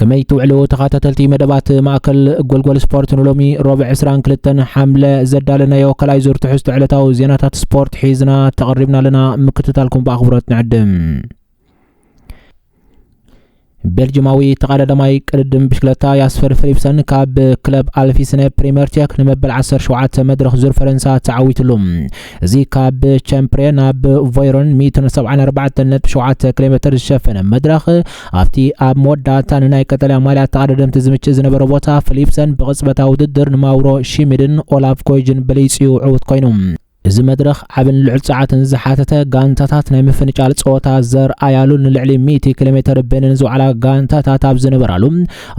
ከመይ ትውዕሉ ተኻታተልቲ መደባት ማእከል ጎልጎል ስፖርት ንሎሚ ሮብዕ 22 ሓምለ ዘዳለናዮ ካልኣይ ዙር ትሕዝቶ ዕለታዊ ዜናታት ስፖርት ሒዝና ተቐሪብና ኣለና ምክትታልኩም ብኣኽብሮት ንዕድም ቤልጅማዊ ተቐዳዳማይ ቅድድም ብሽክለታ ያስፈር ፊሊፕሰን ካብ ክለብ ኣልፊስነ ፕሪምየር ቴክ ንመበል 17 መድረኽ ዙር ፈረንሳ ተዓዊትሉ እዚ ካብ ቸምፕሬ ናብ ቮይሮን 174.7 ኪሎ ሜተር ዝሸፈነ መድረኽ ኣብቲ ኣብ መወዳእታ ንናይ ቀጠልያ ማልያ ተቐዳደምቲ ዝምችእ ዝነበረ ቦታ ፍሊፕሰን ብቕጽበታዊ ውድድር ንማውሮ ሺሚድን ኦላቭ ኮይጅን በሊጽዩ ዕውት ኮይኑ። እዚ መድረኽ ዓብን ልዑል ጸዓትን ዝሓተተ፣ ጋንታታት ናይ ምፍንጫል ጸወታ ዘርኣያሉን ንልዕሊ ሚእቲ ኪሎሜተር በኒን ዝወዓላ ጋንታታት ኣብ ዝነበራሉ፣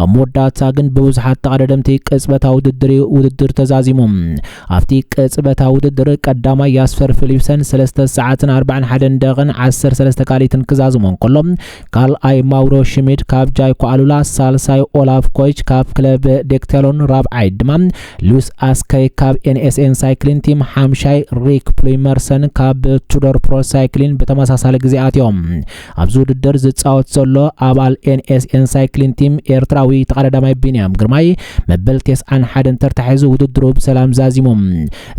ኣብ መወዳእታ ግን ብብዙሓት ተቐዳደምቲ ቅጽበታዊ ውድድር እዩ ውድድር ተዛዚሙ። ኣብቲ ቅጽበታዊ ውድድር ቀዳማይ ያስፐር ፊሊፕሰን ሰለስተ ሰዓትን ኣርባዕን ሓደን ደቂቕን ዓሰርተ ሰለስተ ካልኢትን ክዛዝሞ እንከሎ ካልኣይ ማውሮ ሽሚድ ካብ ጃይኮ ኣሉላ፣ ሳልሳይ ኦላፍ ኮይች ካብ ክለብ ዴክቴሎን፣ ራብዓይ ድማ ሉዊስ ኣስከይ ካብ ኤንኤስኤን ሳይክሊን ቲም፣ ሓምሻይ ሪክ ፕሉይመርሰን ካብ ቱዶር ፕሮ ሳይክሊን ብተመሳሳሊ ግዜ ኣትዮም። ኣብዚ ውድድር ዝፃወት ዘሎ ኣባል ኤንኤስኤን ሳይክሊን ቲም ኤርትራዊ ተቐዳዳማይ ቢንያም ግርማይ መበል ቴስዓን ሓደን ተርታ ሒዙ ውድድሩ ብሰላም ዛዚሙ።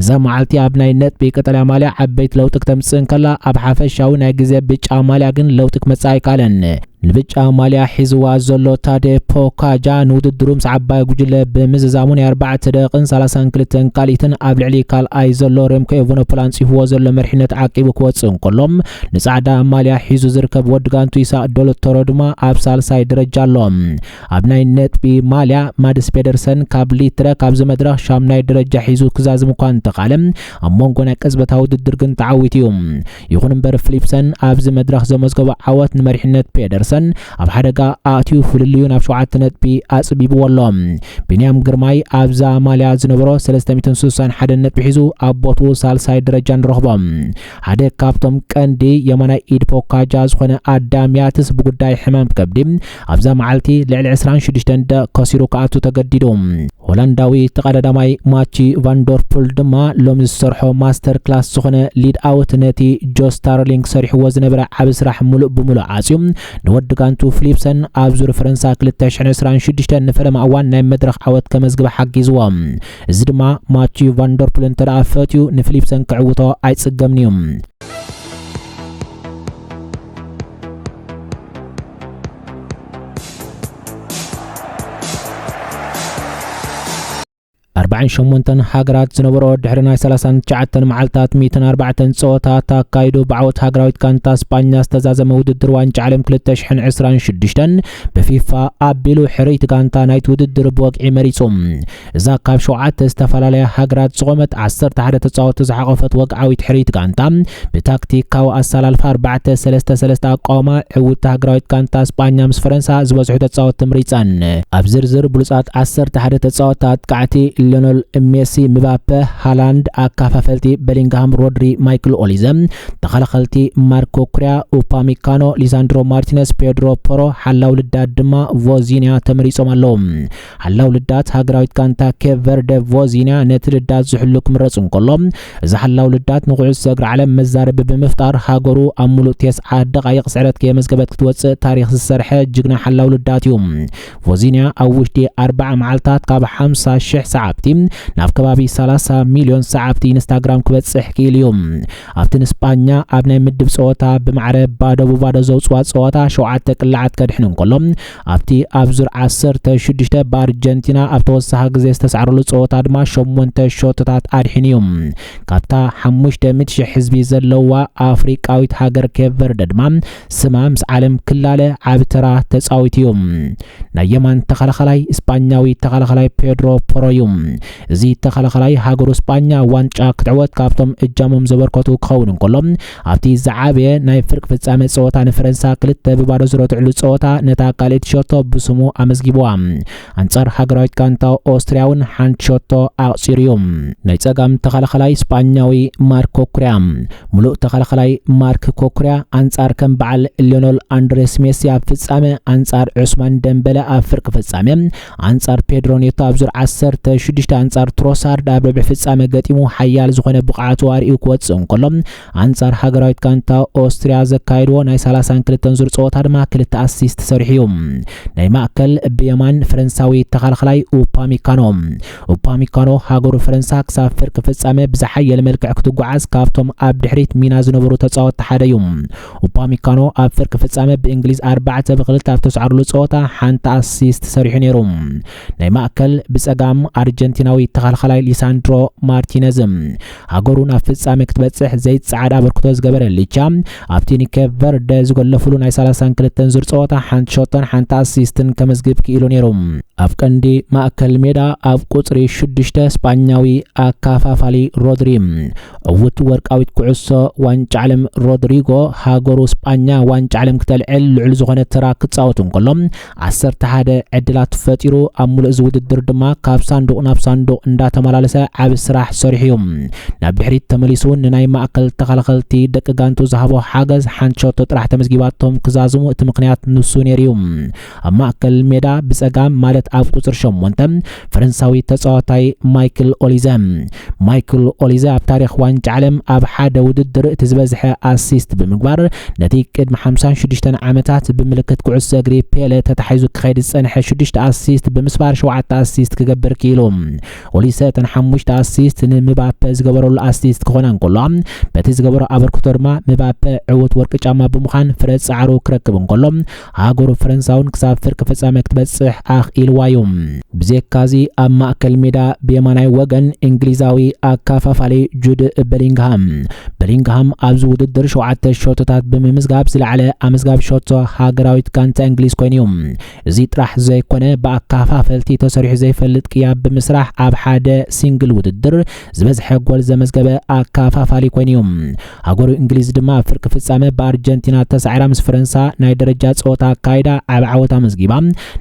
እዛ መዓልቲ ኣብ ናይ ነጥቢ ቀጠልያ ማልያ ዓበይቲ ለውጢ ክተምፅእ እንከላ ኣብ ሓፈሻዊ ናይ ግዜ ብጫ ማልያ ግን ለውጢ ክመፅእ ኣይከኣለን። ንብጫ ማልያ ሒዝዋ ዘሎ ታደ ፖካጃ ንውድድሩ ምስ ዓባይ ጉጅለ ብምዝዛሙ ናይ ኣርባዕተ ደቂቕን ሰላሳን ክልተን ካልኢትን ኣብ ልዕሊ ካልኣይ ዘሎ ሬምኮ ኤቨኖፖል ኣንፂፍዎ ዘሎ መሪሕነት ዓቂቡ ክወፅእ እንከሎ ንጻዕዳ ማልያ ሒዙ ዝርከብ ወዲ ጋንቱ ኢሳቅ ዶሎቶሮ ድማ ኣብ ሳልሳይ ደረጃ ኣሎ። ኣብ ናይ ነጥቢ ማልያ ማድስ ፔደርሰን ካብ ሊትረ ካብዚ መድረኽ ሻምናይ ደረጃ ሒዙ ክዛዝም እኳ እንተኻለ ኣብ ሞንጎ ናይ ቅጽበታ ውድድር ግን ተዓዊቱ እዩ። ይኹን እምበር ፍሊፕሰን ኣብዚ መድረኽ ዘመዝገቦ ዓወት ንመሪሕነት ፔደርሰን ኣብ ሓደጋ ኣእትዩ ፍልልዩ ናብ ሸውዓተ ነጥቢ ኣጽቢብዎ ኣሎ። ቢንያም ግርማይ ኣብዛ ማልያ ዝነበሮ ሰለስተ ሚእትን ስሳን ሓደን ነጥቢ ሒዙ ኣብ ቦትኡ ሳልሳይ ደረጃ ንረኽቦ። ሓደ ካብቶም ቀንዲ የማናይ ኢድ ፖካጃ ዝኾነ ኣዳም ያትስ ብጉዳይ ሕማም ከብዲ ኣብዛ መዓልቲ ልዕሊ 26 እንደ ከሲሩ ክኣቱ ተገዲዱ። ሆላንዳዊ ተቐዳዳማይ ማቺ ቫንዶርፑል ድማ ሎሚ ዝሰርሖ ማስተር ክላስ ዝኾነ ሊድ ኣውት ነቲ ጆ ስታርሊንግ ሰሪሕዎ ዝነበረ ዓብ ስራሕ ሙሉእ ብሙሉእ ዓፅዩ ንወዲ ጋንቱ ፍሊፕሰን ኣብ ዙር ፈረንሳ 2026 ንፈለማ እዋን ናይ መድረኽ ዓወት ከመዝግበ ሓጊዝዎ። እዚ ድማ ማቲዩ ቫንደርፑል እንተ ደኣ ፈትዩ ንፊሊፕሰን ክዕውቶ ኣይጽገምን እዩ። ኣርባዕን ሸሞንተን ሃገራት ዝነበሮ ድሕሪ ናይ 39 መዓልታት 104 ፀወታት ኣካይዱ ብዓወት ሃገራዊት ጋንታ ስጳኛ ዝተዛዘመ ውድድር ዋንጫ ዓለም 2026 ብፊፋ ኣቢሉ ሕርይቲ ጋንታ ናይቲ ውድድር ብወግዒ መሪፁ እዛ ካብ ሸውዓተ ዝተፈላለያ ሃገራት ዝቖመት ዓሰርተ ሓደ ተጻወቲ ዝሓቖፈት ወግዓዊት ሕርይቲ ጋንታ ብታክቲካዊ ኣሰላልፋ ኣርባዕተ ሰለስተ ሰለስተ ኣቋውማ ዕውቲ ሃገራዊት ጋንታ ስጳኛ ምስ ፈረንሳ ዝበዝሑ ተጻወቲ ምሪጸን ኣብ ዝርዝር ብሉጻት ዓሰርተ ሓደ ተጻወቲ ኣጥቃዕቲ ሊዮነል ሜሲ ምባፐ ሃላንድ ኣካፋፈልቲ በሊንግሃም ሮድሪ ማይክል ኦሊዘ ተኸላኸልቲ ማርኮ ኩሪያ ኡፓሚካኖ ሊሳንድሮ ማርቲነስ ፔድሮ ፖሮ ሓላው ልዳድ ድማ ቮዚንያ ተመሪጾም ኣለዉ ሓላው ልዳት ሃገራዊት ጋንታ ኬፕ ቨርደ ቮዚንያ ነቲ ልዳት ዝሕሉ ክምረጽ እንከሎ፣ እዚ ሓላው ልዳት ንኩዕሶ እግሪ ዓለም መዛረቢ ብምፍጣር ሃገሩ ኣብ ምሉእ ተስዓ ደቓይቕ ስዕረት ከየመዝገበት ክትወጽእ ታሪኽ ዝሰርሐ ጅግና ሓላው ልዳት እዩ። ቮዚንያ ኣብ ውሽጢ ኣርብዓ መዓልታት ካብ ሓምሳ ሽሕ ሰዓብቲ ናብ ከባቢ ሰላሳ ሚልዮን ሰዓብቲ ኢንስታግራም ክበጽሕ ክኢሉ እዩ። ኣብቲ ንስጳኛ ኣብ ናይ ምድብ ጸወታ ብማዕረ ባዶ ብባዶ ዘውጽዋ ጸወታ ሸውዓተ ቅላዓት ከድሕን እንከሎ፣ ኣብቲ ኣብ ዙር ዓሰርተ ሽዱሽተ ብኣርጀንቲና ኣብ ተወሳኺ ግዜ ዝተሳዕረሉ ጸወታ ድማ ሸሞንተ ሸቶታት ኣድሒኑ እዩ። ካብታ ሓሙሽተ ሚእቲ ሽሕ ህዝቢ ዘለዋ ኣፍሪቃዊት ሃገር ኬፕ ቨርደ ድማ ስማ ምስ ዓለም ክላለ ዓቢ ተራ ተጻዊቱ እዩ። ናይ የማን ተኸላኸላይ እስጳኛዊ ተኸላኸላይ ፔድሮ ፖሮ እዩ። እዚ ተኸላኸላይ ሃገሩ እስጳኛ ዋንጫ ክትዕወት ካብቶም እጃሞም ዘበርከቱ ክኸውን እንከሎ ኣብቲ ዝዓበየ ናይ ፍርቂ ፍጻመ ጸወታ ንፈረንሳ ክልተ ብባዶ ዝረትዕሉ ጸወታ ነታ ካልኣይቲ ሸቶ ብስሙ ኣመዝጊቡዋ። ኣንጻር ሃገራዊት ጋንታ ኦስትርያ እውን ሓንቲ ሸቶ ኣቕጺሩ እዩ። ናይ ጸጋም ተኸላኸላይ ስጳኛዊ ማርክ ኮኩርያ። ምሉእ ተኸላኸላይ ማርክ ኮኩርያ ኣንጻር ከም በዓል ሊዮኖል ኣንድሬስ ሜሲ ኣብ ፍጻመ ኣንጻር ዑስማን ደምበለ ኣብ ፍርቂ ፍጻመ ኣንጻር ፔድሮ ኔቶ ኣብ ዙር ዓሰርተ ሽዱሽተ ኣንጻር ትሮሳርድ ኣብ ርብዒ ፍጻመ ገጢሙ ሓያል ዝኾነ ብቕዓቱ ኣርእዩ ክወጽእ እንከሎ ኣንጻር ሃገራዊት ጋንታ ኦስትርያ ዘካየድዎ ናይ ሰላሳን ክልተን ዙር ጸወታ ድማ ክልተ ኣሲስት ሰሪሑ እዩ። ናይ ማእከል ብየማን ፈረንሳዊ ተኸላኻላይ ኡፓሚካኖ ኡፓሚካኖ ሃገሩ ፈረንሳ ክሳብ ፍርቂ ፍጻመ ብዝሓየለ መልክዕ ክትጓዓዝ ካብቶም ኣብ ድሕሪት ሚና ዝነበሩ ተጻወትቲ ሓደ እዩ። ኡፓሚካኖ ኣብ ፍርቂ ፍጻመ ብእንግሊዝ ኣርባዕተ ብክልተ ኣብ ተስዓርሉ ጸወታ ሓንቲ ኣሲስት ሰሪሑ ነይሩ። ናይ ማእከል ብጸጋም ኣርጀንቲናዊ ተኸልኸላይ ሊሳንድሮ ማርቲነዝ ሃገሩ ናብ ፍጻመ ክትበጽሕ ዘይጸዓድ ኣበርክቶ ዝገበረ ሊቻ ኣብቲ ንኬፕ ቨርደ ዝገለፍሉ ናይ 32 ዙር ጸወታ ሓንቲ ሸቶን ሓንቲ ኣሲስትን ከመዝግብ ክኢሉ ነይሩ። ኣብ ቀንዲ ማእከል ሜዳ ኣብ ቁጽሪ ሽዱሽተ ስጳኛዊ ኣካፋፋሊ ሮድሪ ዕውት ወርቃዊት ኩዕሶ ዋንጫ ዓለም ሮድሪጎ ሃገሩ ስጳኛ ዋንጫ ዓለም ክተልዕል ልዑል ዝኾነ ተራ ክጻወት እንከሎ ዓሰርተ ሓደ ዕድላት ፈጢሩ ኣብ ሙሉእ እዚ ውድድር ድማ ካብ ሳንዱቕ ናብ ሳንዱቕ እንዳተመላለሰ ዓቢ ስራሕ ሰሪሑ እዩ ናብ ድሕሪት ተመሊሱ እውን ንናይ ማእከል ተኸላኸልቲ ደቂ ጋንቱ ዝሃቦ ሓገዝ ሓንቲ ሸቶ ጥራሕ ተመዝጊባቶም ክዛዝሙ እቲ ምክንያት ንሱ ነይሩ እዩ ኣብ ማእከል ሜዳ ብጸጋም ማለት ኣብ ቁጽሪ ሸሞንተ ፈረንሳዊ ተጻዋታይ ማይክል ኦሊዘ። ማይክል ኦሊዘ ኣብ ታሪኽ ዋንጫ ዓለም ኣብ ሓደ ውድድር እቲ ዝበዝሐ ኣሲስት ብምግባር ነቲ ቅድሚ ሓምሳን ሽዱሽተን ዓመታት ብምልክት ኩዕሶ እግሪ ፔለ ተታሒዙ ክኸይድ ዝጸንሐ ሽዱሽተ ኣሲስት ብምስባር ሸውዓተ ኣሲስት ክገብር ክኢሉ። ኦሊሰ እተን ሓሙሽተ ኣሲስት ንምባፐ ዝገበረሉ ኣሲስት ክኾና እንከለዋ በቲ ዝገበሮ ኣበርክቶ ድማ ምባፐ ዕውት ወርቂ ጫማ ብምዃን ፍረ ጻዕሩ ክረክብ እንከሎ ሃገሩ ፈረንሳውን ክሳብ ፍርቂ ፍጻመ ክትበጽሕ ኣኽኢልዋ'ዩ። ብዜካ'ዚ ኣብ ማእከል ሜዳ ብየማናይ ወገን እንግሊዛዊ ኣካፋፋሊ ጁድ በሊንግሃም፣ Bellingham፣ ኣብዚ ውድድር ሸውዓተ ሸቶታት ብምምዝጋብ ዝለዓለ ኣመዝጋቢ ሸቶ ሃገራዊት ጋንታ እንግሊዝ ኮይኑ'ዩ። እዚ ጥራሕ ዘይኮነ ብኣካፋፈልቲ ተሰሪሑ ዘይፈልጥ ቅያ ብምስራሕ ኣብ ሓደ ሲንግል ውድድር ዝበዝሐ ጎል ዘመዝገበ ኣካፋፋሊ ኮይኑ'ዩ። ሃገሩ እንግሊዝ ድማ ኣብ ፍርቂ ፍጻመ ብኣርጀንቲና ተሳዒራ ምስ ፈረንሳ ናይ ደረጃ ጸወታ ኣካይዳ ዓብ ዓወት ኣመዝጊባ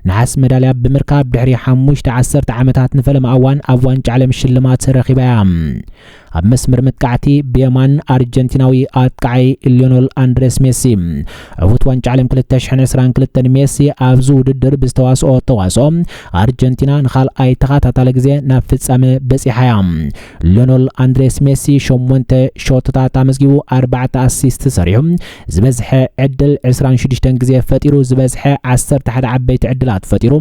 ነሓስ መዳልያ ብምርካብ ድሕሪ ሓሙሽተ ዓሰርተ ዓመታት ንፈለማ እዋን ኣብ ዋንጫ ዓለም ሽልማት ረኺባ እያ። ኣብ መስመር መጥቃዕቲ ብየማን ኣርጀንቲናዊ ኣጥቃዓይ ሊዮኖል ኣንድሬስ ሜሲ ዕውት ዋንጫ ዓለም 2022 ሜሲ ኣብዚ ውድድር ብዝተዋስኦ ተዋስኦ ኣርጀንቲና ንካልኣይ ተኸታታሊ ግዜ ናብ ፍጻመ በፂሓ እያ ሊዮኖል ኣንድሬስ ሜሲ ሸሞንተ ሾትታት ኣመዝጊቡ ኣርባዕተ ኣሲስት ሰሪዑ ዝበዝሐ ዕድል 26 ግዜ ፈጢሩ ዝበዝሐ 11 ዓበይቲ ዕድላት ፈጢሩ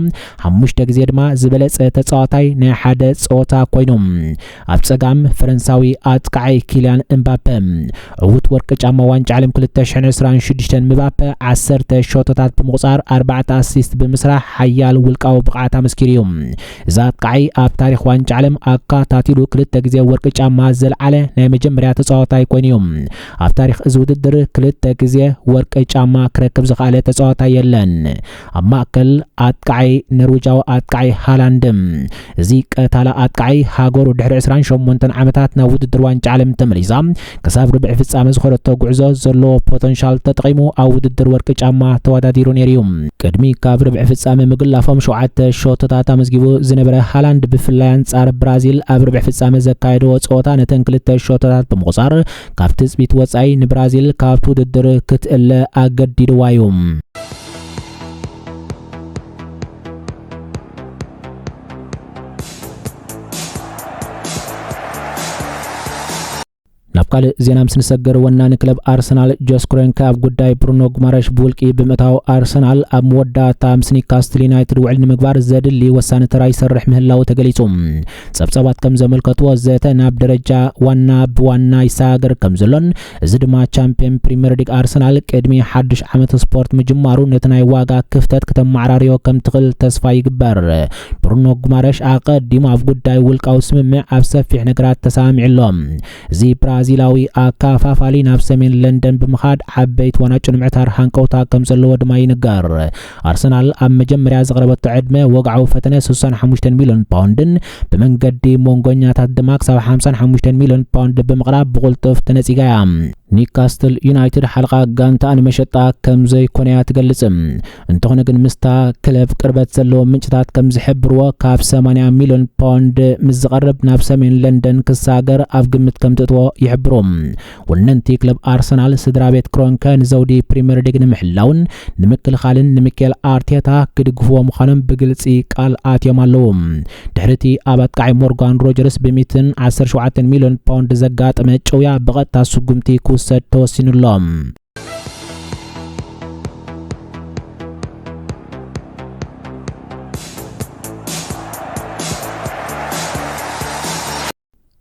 ሓሙሽተ ግዜ ድማ ዝበለጸ ተጻዋታይ ናይ ሓደ ጸወታ ኮይኑ ኣብ ጸጋም ፈረንሳዊ ኣጥቃዓይ ኪልያን እምባፐ ዕውት ወርቂ ጫማ ዋንጫ ዓለም 2026 ምባፐ 10 ሸቶታት ብምቑጻር 4 ኣሲስት ብምስራሕ ሓያል ውልቃዊ ብቕዓት ኣመስኪሩ እዩ እዚ ኣብቃዓይ ኣብ ታሪኽ ዋንጫ ዓለም ኣካታቲሉ ክልተ ግዜ ወርቂ ጫማ ዘልዓለ ናይ መጀመርያ ተጻዋታይ ኮይኑ እዩ። ኣብ ታሪኽ እዚ ውድድር ክልተ ግዜ ወርቂ ጫማ ክረክብ ዝኸኣለ ተጻዋታይ የለን። ኣብ ማእከል ኣጥቃዓይ ነርዊጃዊ ኣጥቃዓይ ሃላንድ እዚ ቀታላ ኣጥቃዓይ ሃገሩ ድሕሪ ዕስራን ሸሞንተን ዓመታት ናብ ውድድር ዋንጫ ዓለም ተመሊሳ ክሳብ ርብዒ ፍጻመ ዝኾረቶ ጉዕዞ ዘለዎ ፖተንሻል ተጠቒሙ ኣብ ውድድር ወርቂ ጫማ ተወዳዲሩ ነይሩ እዩ። ቅድሚ ካብ ርብዒ ፍጻመ ምግላፎም ሸውዓተ ሸቶታት ኣመዝጊቡ ዝነበረ ሃላንድ ብፍላይ ኣንጻር ብራዚል ኣብ ርብዒ ፍጻመ ዘካየድዎ ጸወታ ነተን ክልተ ሸቶታት ብምቑጻር ካብ ትጽቢት ወጻኢ ንብራዚል ካብቲ ውድድር ክትእለ ኣገዲድዋ እዩ። ናብ ካልእ ዜና ምስ ንሰገር ወናኒ ክለብ ኣርሰናል ጆስ ክሮንከ ኣብ ጉዳይ ብሩኖ ጉማረሽ ብውልቂ ብምእታው ኣርሰናል ኣብ መወዳእታ ምስ ኒካስትል ዩናይትድ ውዕል ንምግባር ዘድሊ ወሳኒ ተራ ይሰርሕ ምህላው ተገሊጹ ጸብጻባት ከም ዘመልከትዎ ዘተ ናብ ደረጃ ዋና ብዋና ይሰጋገር ከም ዘሎን እዚ ድማ ቻምፒየን ፕሪምየር ሊግ ኣርሰናል ቅድሚ ሓድሽ ዓመት ስፖርት ምጅማሩ ነቲ ናይ ዋጋ ክፍተት ክተመዓራርዮ ከም ትኽእል ተስፋ ይግበር። ብሩኖ ጉማረሽ ኣቐዲሙ ኣብ ጉዳይ ውልቃዊ ስምምዕ ኣብ ሰፊሕ ነገራት ተሰማሚዑ ኣሎ። እዚ ብራዚላዊ ኣካፋፋሊ ናብ ሰሜን ለንደን ብምኻድ ዓበይቲ ዋናጩ ንምዕታር ሃንቀውታ ከም ዘለዎ ድማ ይንገር። ኣርሰናል ኣብ መጀመርያ ዘቕረበቶ ዕድመ ወግዓዊ ፈተነ ስሳን ሓሙሽተን ሚልዮን ፓውንድን ብመንገዲ ሞንጎኛታት ድማ ክሳብ ሓምሳን ሓሙሽተን ሚልዮን ፓውንድ ብምቕራብ ብቑልጡፍ ተነጺጋ እያ። ኒካስትል ዩናይትድ ሓልቓ ጋንታኣ ንመሸጣ ከም ዘይኮነ እያ ትገልጽ። እንተኾነ ግን ምስታ ክለብ ቅርበት ዘለዎም ምንጭታት ከም ዝሕብርዎ ካብ ሰማንያ ሚልዮን ፓውንድ ምስ ዝቐርብ ናብ ሰሜን ለንደን ክሳገር ኣብ ግምት ከም ትእትዎ ይሕብሩ። ወነንቲ ክለብ ኣርሰናል ስድራቤት ክሮንከ ንዘውዲ ፕሪምየር ሊግ ንምሕላውን ንምክልኻልን ንሚኬል ኣርቴታ ክድግፍዎ ምዃኖም ብግልፂ ቃል ኣትዮም ኣለዉ። ድሕሪ እቲ ኣብ ኣጥቃዒ ሞርጋን ሮጀርስ ብሚትን ዓሰርተ ሸውዓተን ሚሊዮን ፓውንድ ዘጋጠመ ጭውያ ብቐጥታ ስጉምቲ ክውሰድ ተወሲኑ ኣሎ።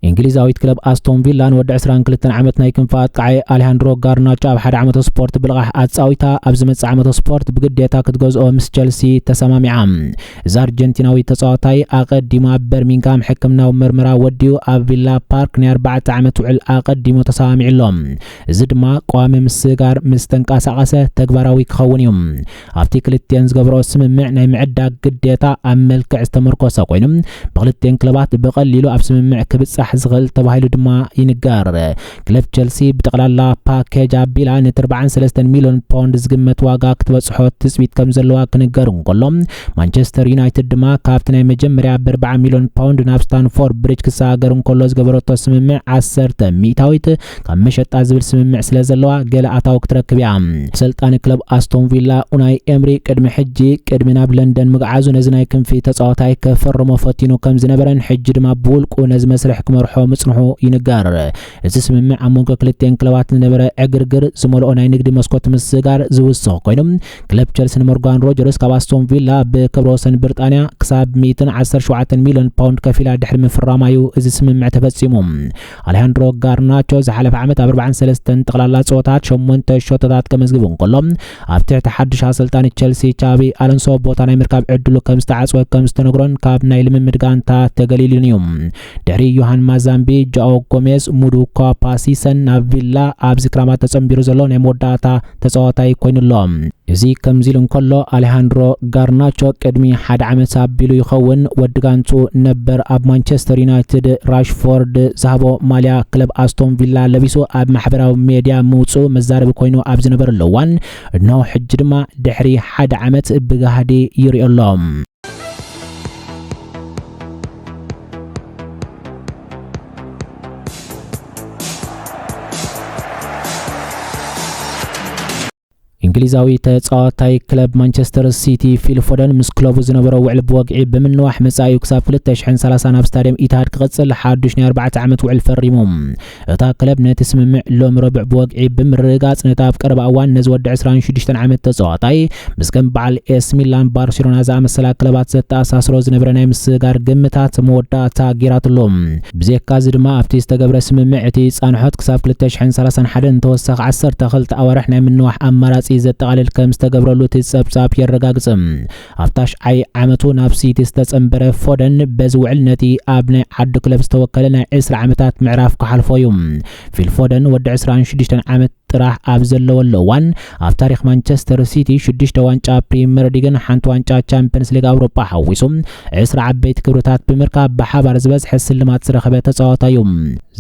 እንግሊዛዊት ክለብ ኣስቶን ቪላ ንወዲ 22 ዓመት ናይ ክንፊ ኣጥቃዓይ ኣሌሃንድሮ ጋርናቾ ኣብ ሓደ ዓመተ ስፖርት ብልቓሕ ኣጻዊታ ኣብ ዝመጽእ ዓመተ ስፖርት ብግዴታ ክትገዝኦ ምስ ቸልሲ ተሰማሚዓ እዚ ኣርጀንቲናዊ ተጻዋታይ ኣቐዲሙ ኣብ በርሚንግሃም ሕክምናዊ ምርመራ ወዲኡ ኣብ ቪላ ፓርክ ናይ ኣርባዕተ ዓመት ውዕል ኣቐዲሙ ተሰማሚዑ ኣሎ እዚ ድማ ቀዋሚ ምስጋር ምስ ተንቀሳቐሰ ተግባራዊ ክኸውን እዩ ኣብቲ ክልቲኤን ዝገብሮ ስምምዕ ናይ ምዕዳግ ግዴታ ኣብ መልክዕ ዝተመርኮሰ ኮይኑ ብክልቲኤን ክለባት ብቐሊሉ ኣብ ስምምዕ ክብጻሕ ዝኽእል ተባሂሉ ድማ ይንገር ክለብ ቸልሲ ብጠቕላላ ፓኬጅ ኣቢላ ነቲ 43 ሚሊዮን ፓውንድ ዝግመት ዋጋ ክትበጽሖ ትጽቢት ከም ዘለዋ ክንገር እንከሎ ማንቸስተር ዩናይትድ ድማ ካብቲ ናይ መጀመርያ ብ40 ሚሊዮን ፓውንድ ናብ ስታንፎርድ ብሪጅ ክሰጋገር እንከሎ ዝገበረቶ ስምምዕ 10 ሚእታዊት ካብ መሸጣ ዝብል ስምምዕ ስለ ዘለዋ ገለ ኣታዊ ክትረክብ እያ። ኣሰልጣኒ ክለብ ኣስቶን ቪላ ኡናይ ኤምሪ ቅድሚ ሕጂ ቅድሚ ናብ ለንደን ምግዓዙ ነዚ ናይ ክንፊ ተጻዋታይ ከፈርሞ ፈቲኑ ከም ዝነበረን ሕጂ ድማ ብውልቁ ነዚ መስርሕ ክመርሖ ምጽንሑ ይንገር። እዚ ስምምዕ ኣብ መንጎ ክልቲኤን ክለባት ዝነበረ ዕግርግር ዝመልኦ ናይ ንግዲ መስኮት ምስጋር ዝውስኽ ኮይኑ ክለብ ቸልሲ ንሞርጋን ሮጀርስ ካብ ኣስቶን ቪላ ብክብረ ወሰን ብርጣንያ ክሳብ ሚእትን ዓሰርተ ሸውዓተን ሚልዮን ፓውንድ ከፊላ ድሕሪ ምፍራማ እዩ እዚ ስምምዕ ተፈጺሙ። ኣሌሃንድሮ ጋርናቾ ዝሓለፈ ዓመት ኣብ 43 ጠቕላላ ጸወታት ሸሞንተ ሸቶታት ከመዝግብ እንከሎ ኣብ ትሕቲ ሓድሽ ኣሰልጣኒ ቸልሲ ቻቢ ኣሎንሶ ቦታ ናይ ምርካብ ዕድሉ ከም ዝተዓጽወ ከም ዝተነግሮን ካብ ናይ ልምምድ ጋንታ ተገሊሉን እዩ ድሕሪ ዮሃን ማዛምቢ ጃኦ ጎሜዝ ሙዱኳ ፓሲሰን ናብ ቪላ ኣብዚ ክራማት ተጸንቢሩ ዘሎ ናይ መወዳእታ ተጻዋታይ ኮይኑ'ሎ። እዚ ከምዚሉ እንከሎ ኣሌሃንድሮ ጋርናቾ ቅድሚ ሓደ ዓመት ኣቢሉ ይኸውን ወዲ ጋንትኡ ነበር ኣብ ማንቸስተር ዩናይትድ ራሽፎርድ ዝሃቦ ማልያ ክለብ ኣስቶን ቪላ ለቢሱ ኣብ ማሕበራዊ ሜድያ ምውጽኡ መዛረቢ ኮይኑ ኣብ ዝነበረሉ እዋን እነሆ ሕጂ ድማ ድሕሪ ሓደ ዓመት ብጋህዲ ይርኦ'ሎ። እንግሊዛዊ ተጻዋታይ ክለብ ማንቸስተር ሲቲ ፊል ፎደን ምስ ክለቡ ዝነበሮ ውዕል ብወግዒ ብምንዋሕ መጻኢኡ ክሳብ 2030 ናብ ስታድየም ኢትሃድ ክቕጽል ሓዱሽ ናይ 4 ዓመት ውዕል ፈሪሙ እታ ክለብ ነቲ ስምምዕ ሎሚ ረቡዕ ብወግዒ ብምርግጋጽ ነቲ ኣብ ቀረባ እዋን ነዚ ወዲ ዕስራን ሽዱሽተን ዓመት ተጻዋታይ ምስ ከም በዓል ኤስ ሚላን ባርሴሎና ዝኣመሰላ ክለባት ዘተኣሳስሮ ዝነበረ ናይ ምስግጋር ግምታት መወዳእታ ገይራትሉ። ብዘካዚ ድማ ኣብቲ ዝተገብረ ስምምዕ እቲ ጻንሖት ክሳብ ክልተ ሽሕን ሰላሳን ሓደን ተወሳኺ ዓሰርተ ክልተ ኣዋርሕ ናይ ምንዋሕ ኣማራጺ ዘጠቓልል ከም ዝተገብረሉ እቲ ጸብጻብ የረጋግጽ። ኣብ ታሽዓይ ዓመቱ ናብ ሲቲ ዝተጸንበረ ፎደን በዚ ውዕል ነቲ ኣብ ናይ ዓዱ ክለብ ዝተወከለ ናይ ዕስራ ዓመታት ምዕራፍ ክሓልፎ እዩ። ፊል ፎደን ወዲ ዕስራን ሽዱሽተን ዓመት ጥራሕ ኣብ ዘለወሉ እዋን ኣብ ታሪኽ ማንቸስተር ሲቲ ሽዱሽተ ዋንጫ ፕሪምየር ሊግን ሓንቲ ዋንጫ ቻምፕየንስ ሊግ ኣውሮጳ ሓዊሱ ዕስራ ዓበይቲ ክብርታት ብምርካብ ብሓባር ዝበዝሐ ስልማት ዝረኸበ ተጻዋታይ እዩ።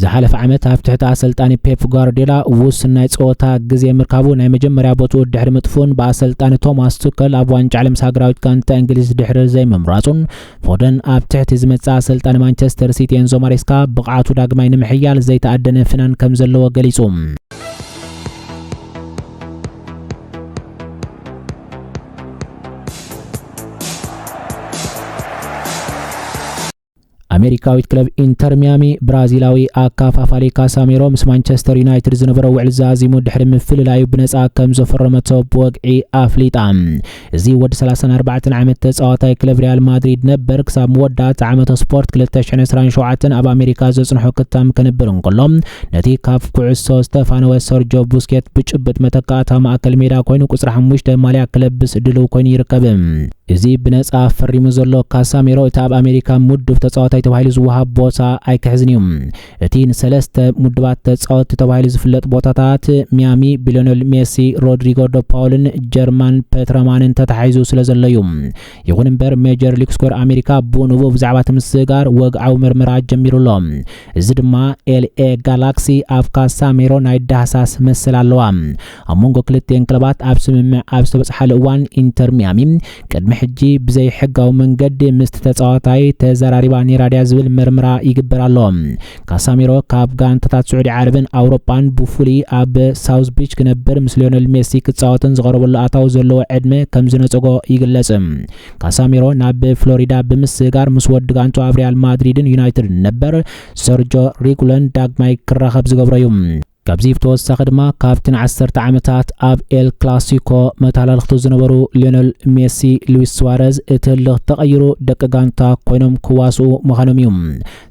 ዝሓለፈ ዓመት ኣብ ትሕቲ ኣሰልጣኒ ፔፕ ጓርዲዮላ ውሱን ናይ ጸወታ ግዜ ምርካቡ ናይ መጀመርያ ቦትኡ ድሕሪ ምጥፍኡን ብኣሰልጣኒ ቶማስ ቱከል ኣብ ዋንጫ ዓለም ምስ ሃገራዊት ጋንታ እንግሊዝ ድሕሪ ዘይምምራጹን ፎደን ኣብ ትሕቲ ዝመጽእ ኣሰልጣኒ ማንቸስተር ሲቲ ኤንዞ ማሬስካ ብቕዓቱ ዳግማይ ንምሕያል ዘይተኣደነ ፍናን ከም ዘለዎ ገሊጹ። ኣሜሪካዊት ክለብ ኢንተር ሚያሚ ብራዚላዊ ኣካፋፋሊ ካሳሜሮ ምስ ማንቸስተር ዩናይትድ ዝነበሮ ውዕል ዛዚሙ ድሕሪ ምፍልላዩ ብነፃ ከም ዘፈረመቶ ብወግዒ ኣፍሊጣ እዚ ወዲ 34 ዓመት ተፃዋታይ ክለብ ሪያል ማድሪድ ነበር ክሳብ መወዳእታ ዓመተ ስፖርት 227 ኣብ ኣሜሪካ ዘፅንሖ ክታም ከንብር እንከሎ ነቲ ካብ ኩዕሶ ዝተፋነወ ሰርጆ ቡስኬት ብጭብጥ መተካእታ ማእከል ሜዳ ኮይኑ ቁፅሪ ሓሙሽተ ማልያ ክለብስ ድልው ኮይኑ ይርከብ እዚ ብነጻ ፈሪሙ ዘሎ ካሳሜሮ እቲ ኣብ ኣሜሪካ ምዱብ ተጻዋታይ ተባሂሉ ዝወሃብ ቦታ ኣይክሕዝን እዩ። እቲ ንሰለስተ ምዱባት ተጻወትቲ ተባሂሉ ዝፍለጥ ቦታታት ሚያሚ ብሊዮኔል ሜሲ፣ ሮድሪጎ ዶ ፓውልን ጀርማን ፐትረማንን ተታሒዙ ስለዘሎ እዩ። ይኹን እምበር ሜጀር ሊግ ስኮር ኣሜሪካ ብኡ ንብኡ ብዛዕባ እቲ ምስግጋር ወግዓዊ ምርመራ ጀሚሩ ኣሎ። እዚ ድማ ኤልኤ ጋላክሲ ኣብ ካሳሜሮ ናይ ዳህሳስ መሰል ኣለዋ። ኣብ መንጎ ክልቲኤን ክለባት ኣብ ስምምዕ ኣብ ዝተበጽሓሉ እዋን ኢንተር ሚያሚ ቅድሚ ሕጂ ብዘይ ሕጋዊ መንገዲ ምስቲ ተጻዋታይ ተዘራሪባ ነይራ ድያ ዝብል ምርምራ ይግበር ኣሎ። ካሳሚሮ ካብ ጋንታታት ስዑዲ ዓረብን ኣውሮጳን ብፍሉይ ኣብ ሳውዝ ቢች ክነብር ምስ ሊዮነል ሜሲ ክጻወትን ዝቐረበሉ ኣታዊ ዘለዎ ዕድመ ከም ዝነጸጎ ይግለጽ። ካሳሚሮ ናብ ፍሎሪዳ ብምስጋር ምስ ወዲ ጋንቱ ኣብ ሪያል ማድሪድን ዩናይትድን ነበር ሰርጆ ሪጉለን ዳግማይ ክራኸብ ዝገብሮ እዩ። ካብዚ ብተወሳኺ ድማ ካብቲ ንዓሰርተ ዓመታት ኣብ ኤል ክላሲኮ መተሃላልኽቱ ዝነበሩ ሊዮነል ሜሲ፣ ሉዊስ ስዋረዝ እቲ ህልኽ ተቐይሩ ደቂ ጋንታ ኮይኖም ክዋስኡ ምዃኖም እዩ።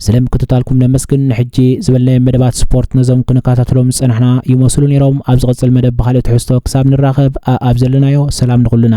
ስለ ምክትታልኩም ነመስግን። ንሕጂ ዝበልናዮም መደባት ስፖርት ነዞም ክንከታተሎም ዝጸናሕና ይመስሉ ነይሮም። ኣብ ዝቕጽል መደብ ብኻልእ ትሕዝቶ ክሳብ ንራኸብ፣ ኣኣብ ዘለናዮ ሰላም ንኹልና።